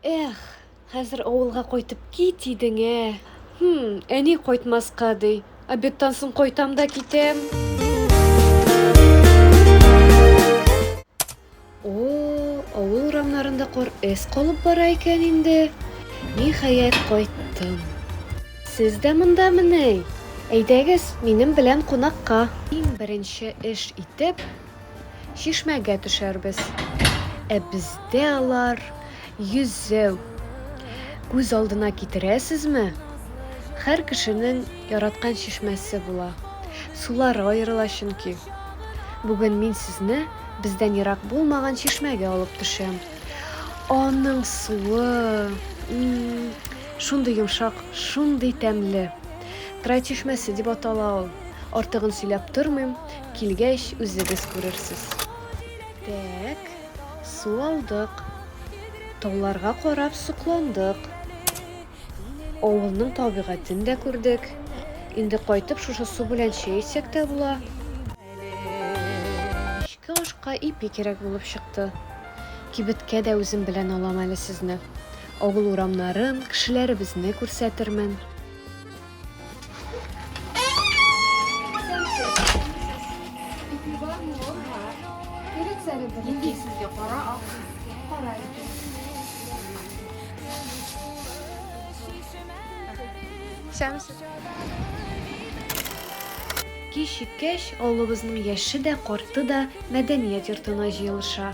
Эх, хәзер авылга кайтып кит идең, ә. Хм, әни кайтмаска ди. Обедтан соң кайтам да китәм. О, авыл урамнарында кар эз калып бара икән инде. Ниһаять кайттым. Сез дә монда мени? Әйдәгез, минем белән кунакка. Иң беренче эш итеп, Чишмәгә төшәрбез. Ә бездә алар йөзәү. Күз алдына китерәсезме? Хәр кешенең яраткан чишмәсе була. Сулары аерыла чөнки. Бүген мин сезне бездән ерак булмаган чишмәгә алып төшәм. Аның суы, шундый йомшак, шундый тәмле. Трай чишмәсе дип атала ул. Артыгын сөйләп тормыйм. Килгәч, үзегез күрерсез. Тәк, су алдык. Тауларга карап сокландык. Авылның табигатен дә күрдек. Инде кайтып шушы су белән чәй эчсәк тә була. Кичке ашка ипи кирәк булып чыкты. Кибеткә дә үзем белән алам әле сезне. Авыл урамнарын, кешеләребезне күрсәтермен. Кич җиткәч, авылыбызның яше дә, карты да мәдәният йортына җыелыша.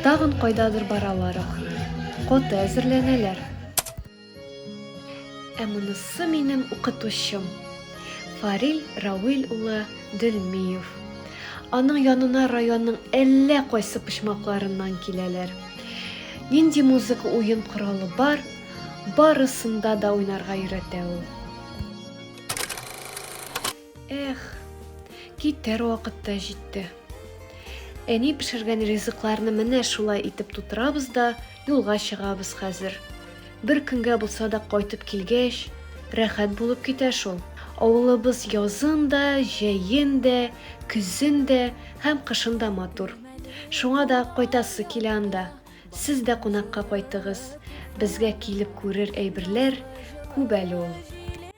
Тагын кайдадыр бараларак. Коты әзерләнәләр. Ә монысы минем укытучым. Фарил Рауил улы Дөлмиев. Аның янына районның әллә кайсы почмакларыннан киләләр. Нинди музыка уен коралы бар, барысында да уйнарга өйрәтә ул. Эх, китәр вакыт та җитте. Әни пешергән ризыкларны менә шулай итеп тутырабыз да юлга чыгабыз хәзер. Бер көнгә булса да кайтып килгәч, рәхәт булып китә шул. Авылыбыз язын да, җәен дә, көзен дә һәм кышын да матур. Шуңа да кайтасы килә анда. Сез дә кунакка кайтыгыз. Безгә килеп күрер әйберләр күп әле ул.